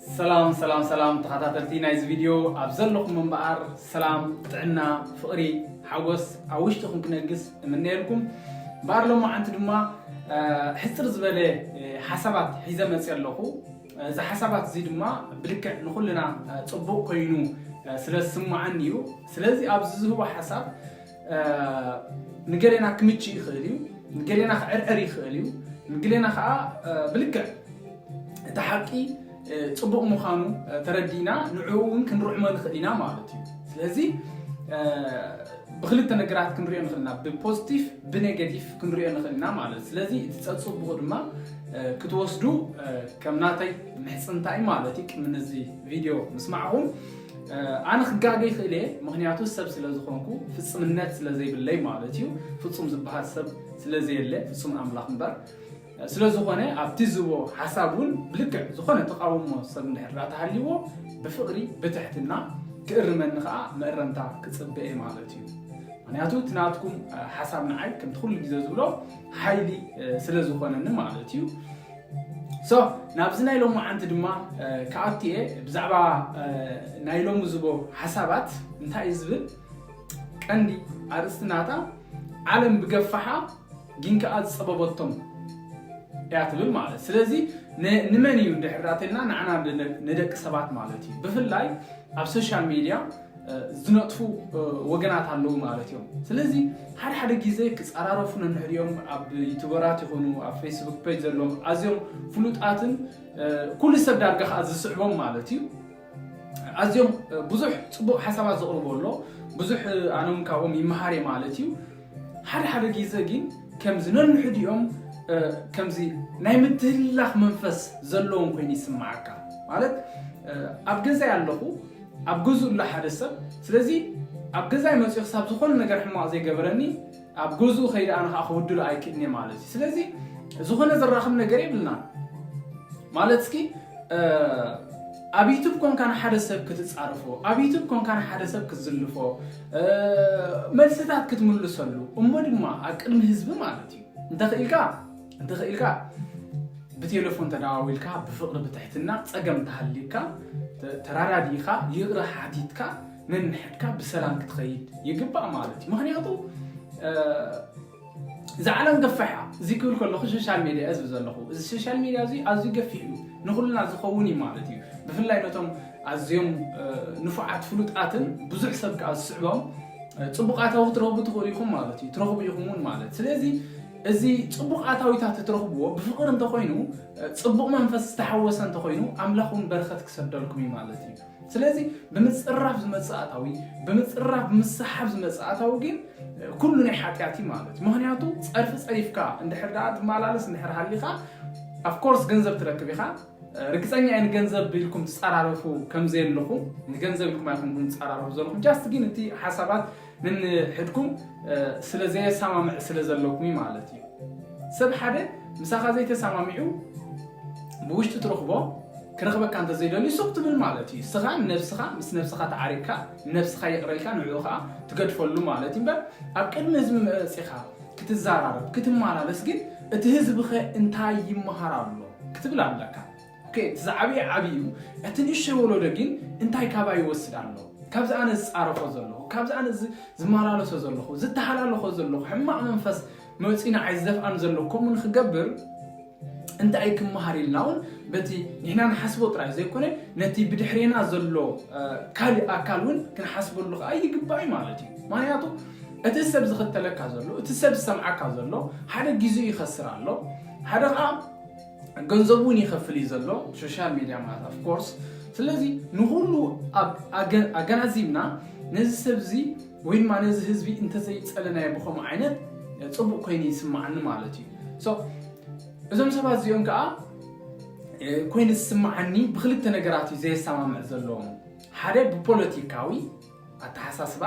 ሰላም ሰላም ሰላም ተኸታተልቲ ናይዚ ቪድዮ ኣብ ዘለኹም እምበኣር ሰላም ጥዕና ፍቕሪ ሓጎስ ኣብ ውሽጥኹም ክነግስ እምነየልኩም እምበኣር ሎማዓንቲ ድማ ሕፅር ዝበለ ሓሳባት ሒዘ መፅእ ኣለኹ እዚ ሓሳባት እዚ ድማ ብልክዕ ንኹልና ፅቡቕ ኮይኑ ስለ ዝስማዓኒ እዩ ስለዚ ኣብዚ ዝህቦ ሓሳብ ንገሌና ክምችእ ይኽእል እዩ፣ ንገሌና ክዕርዕር ይኽእል እዩ፣ ንገሌና ከዓ ብልክዕ እቲ ሓቂ ፅቡቕ ምዃኑ ተረዲእና ንዕኡ እውን ክንርዕሞ ንኽእል ኢና ማለት እዩ። ስለዚ ብክልተ ነገራት ክንሪኦ ንኽእል ኢና፣ ብፖዚቲቭ ብኔጌቲቭ ክንሪኦ ንኽእል ኢና ማለት እዩ። ስለዚ እቲ ፀፅቡቑ ድማ ክትወስዱ ከም ናተይ ምሕፅንታይ ማለት እዩ። ቅድሚ ነዚ ቪድዮ ምስማዕኹም ኣነ ክጋገ ይኽእል እየ ምክንያቱ ሰብ ስለ ዝኾንኩ ፍፅምነት ስለ ዘይብለይ ማለት እዩ ፍፁም ዝበሃል ሰብ ስለ ዘየለ ፍፁም ኣምላኽ እምበር ስለ ዝኾነ ኣብቲ ዝቦ ሓሳብ እውን ብልክዕ ዝኾነ ተቃውሞ ሰብ እንድሕር ተሃልይዎ ብፍቕሪ ብትሕትና ክእርመኒ ከዓ መእረምታ ክፅበ እየ ማለት እዩ ምክንያቱ እቲ ናትኩም ሓሳብ ንዓይ ከምቲ ኩሉ ግዜ ዝብሎ ሓይሊ ስለ ዝኾነኒ ማለት እዩ So ናብዚ ናይ ሎማዓንቲ ድማ ክኣቱ እየ ብዛዕባ ናይ ሎሚ ዝቦ ሓሳባት እንታይ እዩ ዝብል ቀንዲ ኣርእስቲ ናታ ዓለም ብገፋሓ ግን ከኣ ዝጸበበቶም እያ ትብል ማለት ስለዚ ንመን እዩ እንድሕር ተልና ንዓና ንደቂ ሰባት ማለት እዩ ብፍላይ ኣብ ሶሻል ሚድያ ዝነጥፉ ወገናት ኣለዉ ማለት እዮም ስለዚ ሓደ ሓደ ግዜ ክፀራረፉ ነንሕድ እዮም ኣብ ዩቱበራት ይኹኑ ኣብ ፌስቡክ ፔጅ ዘለዎም ኣዝዮም ፍሉጣትን ኩሉ ሰብ ዳርጋ ከዓ ዝስዕቦም ማለት እዩ ኣዝዮም ብዙሕ ፅቡቅ ሓሳባት ዘቕርቦ ኣሎ ብዙሕ ኣነውን ካብኦም ይመሃር እየ ማለት እዩ ሓደ ሓደ ጊዘ ጊን ከምዚ ነንሕዲኦም ከምዚ ናይ ምትህልላኽ መንፈስ ዘለዎም ኮይኑ ይስማዓካ ማለት ኣብ ገዛይ ኣለኹ ኣብ ገዝኡ ኣሎ ሓደ ሰብ ስለዚ ኣብ ገዛይ መጽዩ ክሳብ ዝኾነ ነገር ሕማቕ ዘይገበረኒ ኣብ ገዝኡ ከይደ ኣነ ከኣ ክብድሎ ኣይክእልን እየ ማለት እዩ ስለዚ ዝኾነ ዘራኽብ ነገር የብልናን ማለት እስኪ ኣብ ዩቱብ ኮንካ ንሓደ ሰብ ክትጻርፎ ኣብ ዩቱብ ኮንካ ንሓደ ሰብ ክትዝልፎ መልስታት ክትምልሰሉ እሞ ድማ ኣብ ቅድሚ ህዝቢ ማለት እዩ እንተኽኢልካ እንተኽኢልካ ብቴሌፎን ተደዋዊልካ ብፍቕሪ ብትሕትና ፀገም ተሃልዩካ ተራዳዲእኻ ይቕረ ሓቲትካ ነንሕድካ ብሰላም ክትኸይድ ይግባእ ማለት እዩ ምክንያቱ እዛ ዓለም ገፋሕ እያ እዚ ክብል ከለኹ ሸሻል ሜድያ እየ ዝብል ዘለኹ እዚ ሸሻል ሜድያ እዙይ ኣዝዩ ገፊሕ እዩ ንኹልና ዝኸውን እዩ ማለት እዩ ብፍላይ ነቶም ኣዝዮም ንፉዓት ፍሉጣትን ብዙሕ ሰብ ከዓ ዝስዕቦም ፅቡቅ ኣታዊ ክትረኽቡ ትኽእሉ ኢኹም ማለት እዩ ትረኽቡ ኢኹም እውን ማለት ስለዚ እዚ ፅቡቅ ኣታዊታት እትረኽብዎ ብፍቕሪ እንተኾይኑ ፅቡቅ መንፈስ ዝተሓወሰ እንተኾይኑ ኣምላኽ እውን በረኸት ክሰደልኩም እዩ ማለት እዩ ስለዚ ብምጽራፍ ዝመጽእ ኣታዊ ብምጽራፍ ብምስሓብ ዝመጽእ ኣታዊ ግን ኩሉ ናይ ሓጢኣት እዩ ማለት እዩ ምክንያቱ ጸርፊ ጸሪፍካ እንድሕር ደኣ ትመላለስ እንድሕር ሃሊኻ ኣፍኮርስ ገንዘብ ትረክብ ኢኻ ርግጸኛ እየ ንገንዘብ ኢልኩም ትጸራረፉ ከም ዘየለኹም ንገንዘብ ኢልኩም ኣይኮንኩም ትጸራረፉ ዘለኹም ጃስት ግን እቲ ሓሳባት ነንሕድኩም ስለ ዘየሳማምዕ ስለ ዘለኩምዩ ማለት እዩ ሰብ ሓደ ምሳካ ዘይተሳማሚዑ ብውሽጢ ትረክቦ ክረክበካ እንተዘይደልዩ ሱቅ ትብል ማለት እዩ ስካ ንነብስካ ምስ ነብስካ ተዓሪቅካ ንነብስካ ይቅረልካ ንዕኡ ከዓ ትገድፈሉ ማለት እዩ እምበር ኣብ ቅድሚ ህዝቢ መፂካ ክትዛራረብ ክትመላለስ ግን እቲ ህዝቢ ከ እንታይ ይመሃር ኣሎ ክትብል ኣለካ ኦኬ እቲ ዝዓበየ ዓብይ እዩ እቲ ንእሽተይ ወሎዶ ጊን እንታይ ካባይ ይወስድ ኣሎ ካብዚ ኣነ ዝጻረፎ ዘለኩ ካብዚ ኣነ ዝማላለሶ ዘለኩ ዝተሃላለኮ ዘለኩ ሕማቅ መንፈስ መጺኡ ንዓይ ዝደፍኣኒ ዘሎ ከምኡ ንክገብር እንታይ እዩ ክመሃር ኢልና እውን በቲ ንሕና ንሓስቦ ጥራይ ዘይኮነ ነቲ ብድሕሬና ዘሎ ካልእ ኣካል እውን ክንሓስበሉ ከዓ ይግባእ ማለት እዩ ምክንያቱ እቲ ሰብ ዝኽተለካ ዘሎ እቲ ሰብ ዝሰምዓካ ዘሎ ሓደ ግዜኡ ይኸስር ኣሎ ሓደ ከዓ ገንዘቡ ውን ይከፍል እዩ ዘሎ ሶሻል ሚድያ ማለት ኣፍ ኮርስ ስለዚ ንኩሉ ኣገናዚብና ነዚ ሰብ እዚ ወይ ድማ ነዚ ህዝቢ እንተዘይፀለናዮ ብከምኡ ዓይነት ፅቡቅ ኮይኑ ይስማዓኒ ማለት እዩ እዞም ሰባት እዚኦም ከዓ ኮይኑ ዝስማዓኒ ብክልተ ነገራት እዩ ዘየሰማምዕ ዘለዎም ሓደ ብፖለቲካዊ ኣተሓሳስባ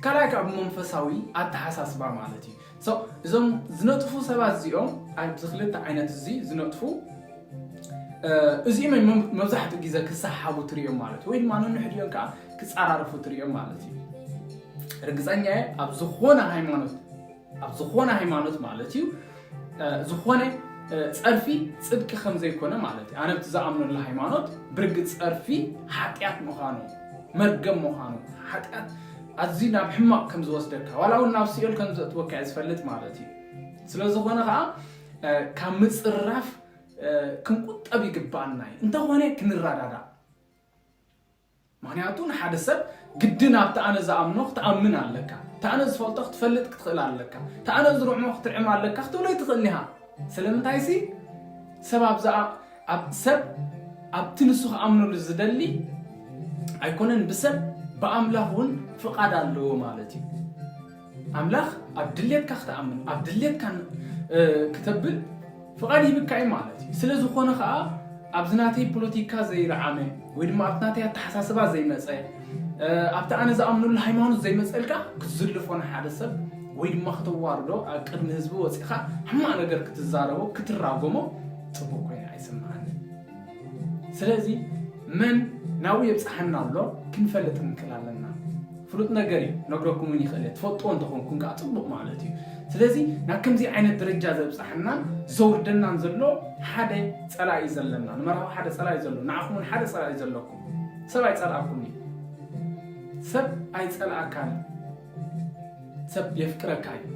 ካልኣይ ከዓ ብመንፈሳዊ ኣተሓሳስባ ማለት እዩ So እዞም ዝነጥፉ ሰባት እዚኦም ኣብዚ ክልተ ዓይነት እዚ ዝነጥፉ እዚኦም እዮም መብዛሕትኡ ግዜ ክሰሓቡ ትሪኦም ማለት ወይ ድማ ንንሕዲኦም ከዓ ክፀራርፉ ትሪኦም ማለት እዩ ርግፀኛ እየ ኣብ ዝኾነ ሃይማኖት ኣብ ዝኾነ ሃይማኖት ማለት እዩ ዝኾነ ፀርፊ ፅድቂ ከም ዘይኮነ ማለት እዩ ኣነ ብቲ ዝኣምነሉ ሃይማኖት ብርግፅ ፀርፊ ሓጢኣት ምዃኑ መርገም ምዃኑ ሓጢኣት ኣዝዩ ናብ ሕማቕ ከም ዝወስደካ ዋላ እውን ናብ ሲኦል ከም ዘእትወካ እየ ዝፈልጥ ማለት እዩ። ስለ ዝኾነ ኸዓ ካብ ምጽራፍ ክንቁጠብ ይግባኣና እዩ። እንተኾነ ክንረዳዳእ ምክንያቱ ንሓደ ሰብ ግድን ኣብቲ ኣነ ዝኣምኖ ክትኣምን ኣለካ እቲ ኣነ ዝፈልጦ ክትፈልጥ ክትኽእል ኣለካ እቲ ኣነ ዝርዕሞ ክትርዕም ኣለካ ክትብሎ ኣይትኽእልን ኢኻ ስለምንታይሲ ሰብ ኣብዛ ኣብ ሰብ ኣብቲ ንሱ ክኣምነሉ ዝደሊ ኣይኮነን ብሰብ ብኣምላኽ እውን ፍቓድ ኣለዎ ማለት እዩ። ኣምላኽ ኣብ ድሌትካ ክትኣምን ኣብ ድሌትካ ክተብል ፍቓድ ሂብካ እዩ ማለት እዩ። ስለ ዝኾነ ከዓ ኣብዚ ናተይ ፖለቲካ ዘይረዓመ ወይ ድማ ኣብቲ ናተይ ኣተሓሳስባ ዘይመፀ ኣብቲ ኣነ ዝኣምነሉ ሃይማኖት ዘይመጸልካ ክትዝልፎ ንሓደ ሰብ ወይ ድማ ክተዋርዶ ኣብ ቅድሚ ህዝቢ ወጺኻ ሕማቅ ነገር ክትዛረቦ ክትራጎሞ ጽቡቅ ኮይኑ ኣይስምዓንን ስለዚ መን ናብኡ የብጽሓና ኣሎ ክንፈልጥ ክንክል ኣለና ፍሉጥ ነገር እዩ ነግረኩም እውን ይኽእል እየ ትፈልጥዎ እንተኾንኩም ከዓ ጽቡቅ ማለት እዩ ስለዚ ናብ ከምዚ ዓይነት ደረጃ ዘብጽሓናን ዘውርደናን ዘሎ ሓደ ጸላኢ ዘለና ንመርሃዊ ሓደ ጸላኢ ዘሎ ንዓኹም እውን ሓደ ጸላኢ ዘለኩም ሰብ ኣይጸልኣኩን እዩ ሰብ ኣይጸልኣካን እዩ ሰብ የፍቅረካ እዩ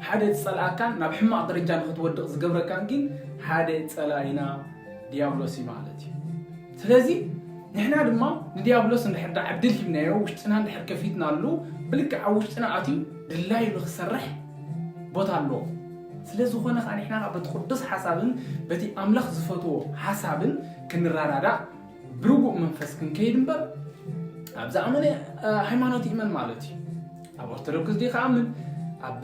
ሓደ ዝጸልኣካን ናብ ሕማቕ ደረጃ ንክትወድቕ ዝገብረካን ግን ሓደ ጸላኢና ዲያብሎስ እዩ ማለት እዩ ስለዚ ንሕና ድማ ንዲያብሎስ እንድሕር ዳ ዕድል ሂብናዮ ውሽጥና እንድሕር ከፊትናሉ ብልክዕ ኣብ ውሽጥና ኣትዩ ድላዩ ንክሰርሕ ቦታ ኣለዎ ስለ ዝኾነ ከኣ ንሕና ከኣ በቲ ቅዱስ ሓሳብን በቲ ኣምላኽ ዝፈትዎ ሓሳብን ክንረዳዳእ ብርጉእ መንፈስ ክንከይድ እምበር ኣብ ዝኣመነ ሃይማኖት ይእመን ማለት እዩ ኣብ ኦርቶዶክስ ዲ ከኣምን ኣብ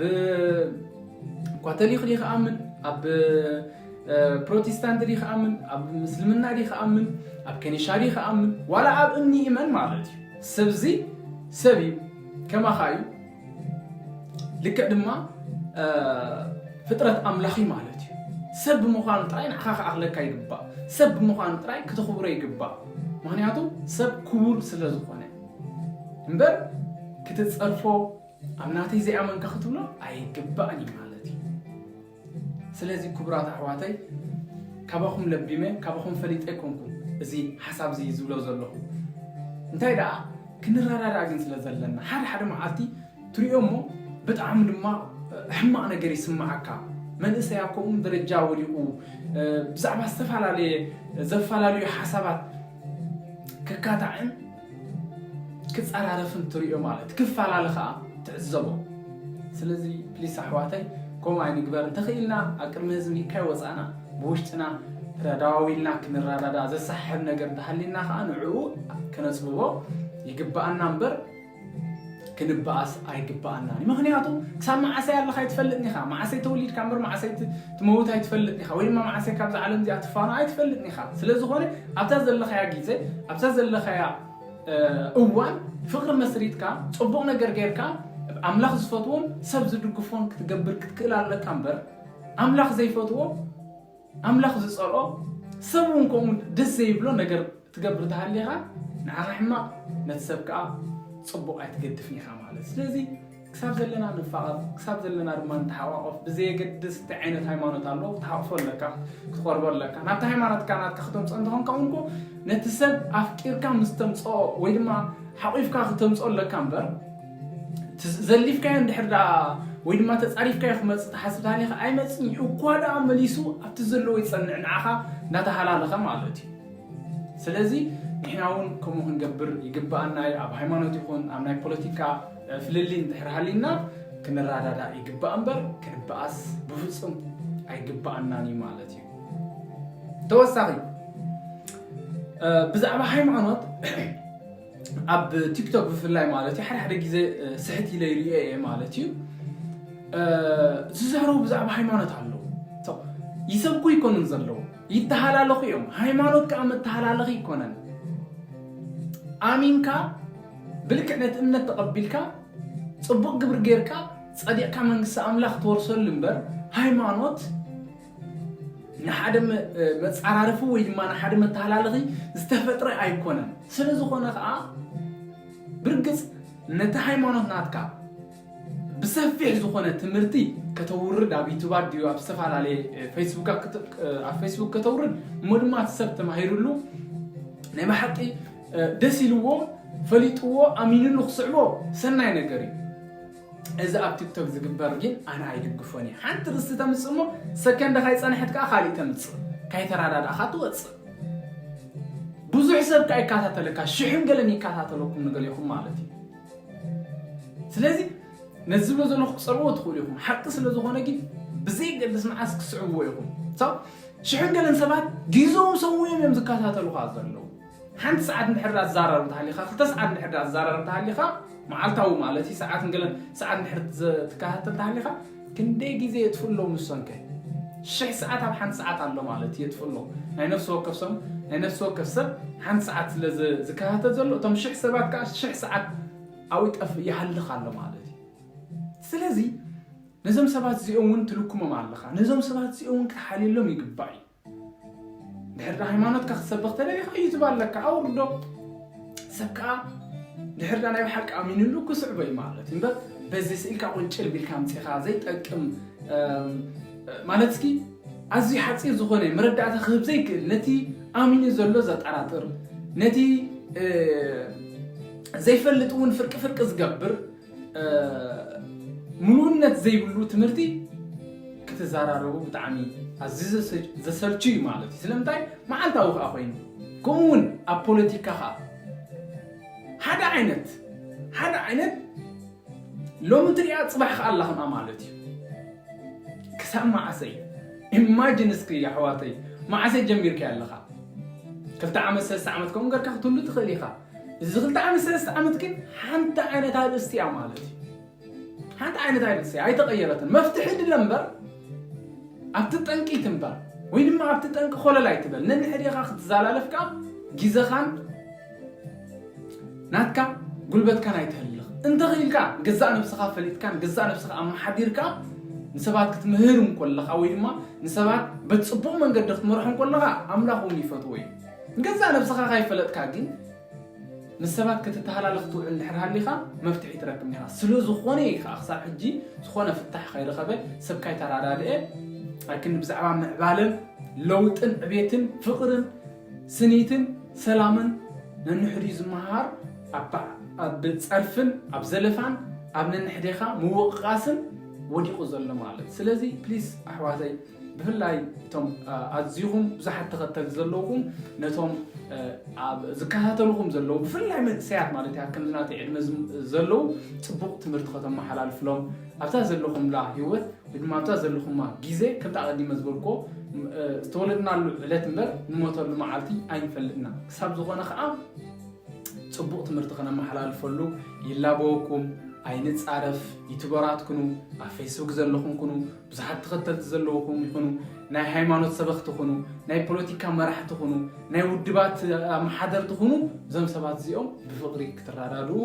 ካቶሊክ ዲ ከኣምን ኣብ ፕሮቴስታንት ዲ ከኣምን ኣብ ምስልምና ዲ ከኣምን ኣብ ከኒሻ ዲ ከኣምን ዋላ ኣብ እምኒ ይእመን ማለት እዩ ሰብዚ ሰብ እዩ ከማኻ እዩ ልክዕ ድማ ፍጥረት ኣምላኽ እዩ ማለት እዩ ሰብ ብምዃኑ ጥራይ ንዓኻ ክኣኽለካ ይግባእ ሰብ ብምዃኑ ጥራይ ክተኽብሮ ይግባእ ምክንያቱ ሰብ ክቡር ስለ ዝኾነ እምበር ክትፀርፎ ኣብ ናተይ ዘይኣመንካ ክትብሎ ኣይግባእን እዩ ማለት እዩ ስለዚ ክቡራት ኣሕዋተይ ካባኹም ለቢመ ካባኹም ፈሊጠ ኣይኮንኩን እዚ ሓሳብ እዚ ዝብሎ ዘለኹ እንታይ ደኣ ክንረዳዳእ ግን ስለ ዘለና ሓደ ሓደ መዓልቲ ትሪኦ እሞ ብጣዕሚ ድማ ሕማቕ ነገር ይስምዓካ መንእሰይ ኣብ ከምኡ ደረጃ ወዲቑ ብዛዕባ ዝተፈላለየ ዘፈላለዩ ሓሳባት ክካታዕን ክጻራረፍን ትሪኦ ማለት ክፋላለ ከኣ ትዕዘቦ ስለዚ ፕሊስ ኣሕዋተይ ከምኡ ኣይንግበር እንተኽኢልና ኣብ ቅድሚ ህዝቢ ካይ ወጻእና ብውሽጥና ተዳዋዊልና ክንራዳዳ ዘሰሓሕብ ነገር እንተሃሊና ከኣ ንዕኡ ከነጽብቦ ይግባኣና እምበር ክንባኣስ ኣይግባኣናን እዩ ምክንያቱ ክሳብ ማዓሰይ ኣለካ ኣይትፈልጥን ኢካ ማዓሰይ ተወሊድካ እምበር ማዓሰይ ትመውት ኣይትፈልጥን ኢካ ወይ ድማ ማዓሰይ ካብዛ ዓለም እዚኣ ትፋኖ ኣይትፈልጥን ኢካ ስለዝኮነ ኣብታ ዘለካያ ጊዘ ኣብታ ዘለካያ እዋን ፍቅሪ መስሪትካ ጽቡቅ ነገር ጌርካ ኣምላኽ ዝፈትዎን ሰብ ዝድግፎን ክትገብር ክትክእል ኣለካ እምበር ኣምላኽ ዘይፈትዎ ኣምላኽ ዝጸልኦ ሰብ እውን ከምኡ ደስ ዘይብሎ ነገር ትገብር ተሃሊኻ ንዓኻ ሕማቕ ነቲ ሰብ ከኣ ጽቡቕ ኣይትገድፍን ኢኻ ማለት ስለዚ ክሳብ ዘለና ንፋቐር ክሳብ ዘለና ድማ ንተሓቋቆፍ ብዘየገድስ እንታይ ዓይነት ሃይማኖት ኣሎ ክትሓቕፎ ኣለካ ክትቆርቦ ኣለካ ናብቲ ሃይማኖትካ ናትካ ክተምፅኦ እንተኾንካ እውን ኮ ነቲ ሰብ ኣፍቂርካ ምስ ተምፅኦ ወይ ድማ ሓቑፍካ ክተምፅኦ ኣለካ እምበር ዘሊፍካዮ እንድሕር ደኣ ወይ ድማ ተፃሪፍካዮ ክመፅእ ትሓስብ ታሊኻ ኣይመፅን እዩ እኳ ደኣ መሊሱ ኣብቲ ዘለዎ ይፀንዕ ንዓኻ እናተሃላለኸ ማለት እዩ ስለዚ ንሕና እውን ከምኡ ክንገብር ይግበኣና እዩ። ኣብ ሃይማኖት ይኹን ኣብ ናይ ፖለቲካ ፍልልይ እንድሕር ሃልዩና ክንረዳዳእ ይግባእ እምበር ክንበኣስ ብፍፁም ኣይግበኣናን እዩ ማለት እዩ። ተወሳኺ ብዛዕባ ሃይማኖት ኣብ ቲክቶክ ብፍላይ ማለት እዩ ሓደ ሓደ ግዜ ስሕት ኢለ ይርኦ እየ ማለት እዩ ዝዛረቡ ብዛዕባ ሃይማኖት ኣለዉ ይሰብኩ ይኮኑን ዘለዉ ይተሃላለኹ እዮም ሃይማኖት ከኣ መተሃላለኺ ይኮነን ኣሚንካ ብልክዕ ነቲ እምነት ተቐቢልካ ጽቡቕ ግብሪ ጌርካ ጸዲቕካ መንግስቲ ኣምላኽ ትወርሰሉ እምበር ሃይማኖት ንሓደ መጻራርፊ ወይ ድማ ንሓደ መተሃላለኺ ዝተፈጥረ ኣይኮነን ስለ ዝኾነ ከዓ ብርግጽ ነቲ ሃይማኖት ናትካ ብሰፊሕ ዝኾነ ትምህርቲ ከተውርድ ኣብ ዩቱብ ኣዲዩ ኣብ ዝተፈላለየ ፌስቡክ ኣብ ፌስቡክ ከተውርድ እሞ ድማ እቲ ሰብ ተማሂርሉ ናይ ብሓቂ ደስ ኢልዎ ፈሊጥዎ ኣሚንሉ ክስዕቦ ሰናይ ነገር እዩ እዚ ኣብ ቲክቶክ ዝግበር ግን ኣነ ኣይድግፎን እዩ ሓንቲ ርስቲ ተምፅእ እሞ ሰከንደ ካይፀንሐት ከዓ ካሊእ ተምፅእ ካይተረዳዳእካ ትወፅእ ብዙሕ ሰብ ከዓ ይከታተለካ ሽሕን ገለን ይከታተለኩም ንገሌኹም ማለት እዩ ስለዚ ነዚ ዝብሎ ዘለኹ ክትጸልዎ ትኽእሉ ኢኹም ሓቂ ስለ ዝኾነ ግን ብዘይገድስ መዓስ ክትስዕብዎ ኢኹም ሽሕን ገለን ሰባት ግዞም ሰውዮም እዮም ዝከታተሉኻ ዘለዉ ሓንቲ ሰዓት እንድሕር ኣዛራር እንተሃሊኻ ክልተ ሰዓት እንድሕር ኣዛራር እንተሃሊኻ መዓልታዊ ማለት እዩ ሰዓት ገለን ሰዓት እንድሕር ትከታተል ተሃሊኻ ክንደይ ግዜ የጥፍኡ ኣለዉ ንሶንከ? ሽሕ ሰዓት ኣብ ሓንቲ ሰዓት ኣሎ ማለት የጥፍኡ ኣለዉ። ናይ ነፍሲ ወከፍ ሰም ናይ ነፍሲ ወከፍ ሰብ ሓንቲ ሰዓት ስለ ዝከታተል ዘሎ እቶም ሽሕ ሰባት ከኣ ሽሕ ሰዓት ኣብኡ ይጠፍእ ይሃልኽ ኣሎ ማለት እዩ። ስለዚ ነዞም ሰባት እዚኦም እውን ትልኩሞም ኣለኻ። ነዞም ሰባት እዚኦም እውን ክትሓልየሎም ይግባእ እዩ። ድሕሪ ሃይማኖትካ ክትሰብኽ ተደሊኻ ዩቱብ ኣለካ ኣውርዶ ሰብ ከዓ ድሕር ዳ ናይ ብሓቂ ኣሚንሉ ክስዕቦ እዩ ማለት እዩ እምበር በዚ ስእልካ ቁንጭር ቢልካ ምፅኻ ዘይጠቅም ማለት እስኪ ኣዝዩ ሓፂር ዝኾነ መረዳእታ ክህብ ዘይክእል ነቲ ኣሚኑ ዘሎ ዘጠራጥር ነቲ ዘይፈልጥ እውን ፍርቂ ፍርቂ ዝገብር ምሉእነት ዘይብሉ ትምህርቲ ክትዘራረቡ ብጣዕሚ ኣዝዩ ዘሰልቹ እዩ ማለት እዩ ስለምንታይ መዓልታዊ ከዓ ኮይኑ ከምኡ እውን ኣብ ፖለቲካ ከዓ ሓደ ዓይነት ሓደ ዓይነት ሎሚ ትሪኣ ፅባሕ ከዓ ኣላ ከምኣ ማለት እዩ ክሳብ መዓሰ እዩ ኢማጅን እስኪ ኣሕዋተይ መዓሰ ጀሚርካዮ ኣለኻ ክልተ ዓመት ሰለስተ ዓመት ከምኡ ገርካ ክትህሉ ትኽእል ኢኻ እዚ ክልተ ዓመት ሰለስተ ዓመት ግን ሓንቲ ዓይነት ኣርእስቲ እያ ማለት እዩ ሓንቲ ዓይነት ኣርእስቲ ኣይተቐየረትን መፍትሒ ድለ እምበር ኣብቲ ጠንቂ ትንበር ወይ ድማ ኣብቲ ጠንቂ ኮለል ኣይትበል ነንሕዴኻ ክትዘላለፍ ከዓ ጊዘኻን ናትካ ጉልበትካን ኣይተህልኽ እንተኽኢልካ ገዛእ ነብስኻ ፈሊጥካን ገዛእ ነብስኻ ኣመሓዲርካ ንሰባት ክትምህር እንኮለኻ ወይ ድማ ንሰባት በቲ ፅቡቕ መንገዲ ክትመርሖ እንኮለኻ ኣምላኽ እውን ይፈትዎ እዩ ንገዛእ ነብስኻ ካይፈለጥካ ግን ምስ ሰባት ክትተሃላለኽ ትውዕል እንድሕር ሃሊኻ መፍትሒ ትረክብ ኒኻ ስለዝኾነ እዩ ከዓ ክሳብ ሕጂ ዝኾነ ፍታሕ ካይረኸበ ሰብ ካይተራዳድአ ኣብ ክንዲ ብዛዕባ ምዕባለን ለውጥን ዕቤትን ፍቕርን ስኒትን ሰላምን ነንሕድኡ ዝመሃሃር ኣብ ጸርፍን ኣብ ዘለፋን ኣብ ነንሕዴኻ ምውቕቓስን ወዲቑ ዘሎ ማለት ስለዚ ፕሊስ ኣሕዋተይ ብፍላይ እቶም ኣዚኹም ብዙሓት ተኸተልቲ ዘለውኹም ነቶም ኣብ ዝከታተልኹም ዘለዉ ብፍላይ መንእሰያት ማለት እያ ከምዚ ናተይ ዕድመ ዘለዉ ጽቡቕ ትምህርቲ ከተመሓላልፍሎም ኣብታ ዘለኹምላ ህይወት ወይ ድማ ኣብታ ዘለኹማ ግዜ ከምቲ ኣቐዲመ ዝበልክዎ ዝተወለድናሉ ዕለት እምበር ንሞተሉ መዓልቲ ኣይንፈልጥና ክሳብ ዝኾነ ከዓ ፅቡቕ ትምህርቲ ከነመሓላልፈሉ ይላበወኩም ኣይንፃረፍ ዩቱበራት ኩኑ ኣብ ፌስቡክ ዘለኹም ኩኑ ብዙሓት ተኸተልቲ ዘለዉኹም ይኹኑ፣ ናይ ሃይማኖት ሰበኽቲ ኹኑ፣ ናይ ፖለቲካ መራሕቲ ኹኑ፣ ናይ ውድባት ኣመሓደርቲ ኹኑ፣ እዞም ሰባት እዚኦም ብፍቕሪ ክትረዳድኡ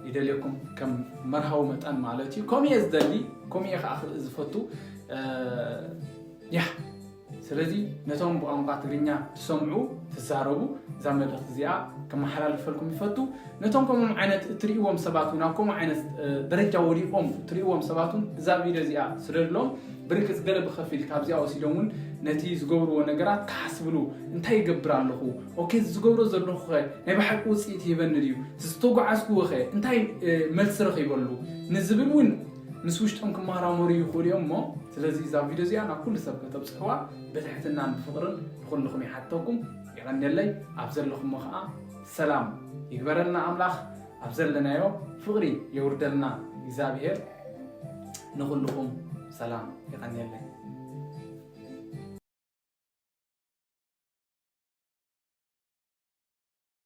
ይደልየኩም፣ ከም መርሃዊ መጠን ማለት እዩ። ከምኡ እየ ዝደሊ፣ ከምኡ እየ ከዓ ዝፈቱ። ያ ስለዚ ነቶም ብቋንቋ ትግርኛ ትሰምዑ፣ ትዛረቡ፣ እዛ መልእኽቲ እዚኣ ከመሓላልፈልኩም ይፈቱ። ነቶም ከምኦም ዓይነት እትርእይዎም ሰባት እውን ኣብ ከምኡ ዓይነት ደረጃ ወዲቖም እትርእይዎም ሰባት እውን እዛ ቪድዮ እዚኣ ስደድሎም። ብርግጽ ገለ ብኸፊል ካብዚኣ ወሲዶም እውን ነቲ ዝገብርዎ ነገራት ክሓስብሉ፣ እንታይ ይገብር ኣለኹ? ኦኬ እዚ ዝገብሮ ዘለኹኸ ናይ ብሓቂ ውጽኢት ይህበኒ ድዩ? እዚ ዝተጓዓዝክዎኸ እንታይ መልሲ ረኺበሉ? ንዝብል እውን ምስ ውሽጦም ክማራመሩ ይኽእሉ እዮም እሞ ስለዚ እዛ ቪድዮ እዚኣ ናብ ኩሉ ሰብ ከተብጽሕዋ ብትሕትናን ብፍቕርን ንኹልኹም ይሓተኩም የቐንየለይ ኣብ ዘለኹሞ ኸኣ ሰላም ይግበረልና ኣምላኽ ኣብ ዘለናዮ ፍቕሪ የውርደልና እግዚኣብሄር ንኹልኹም ሰላም የቐንየለይ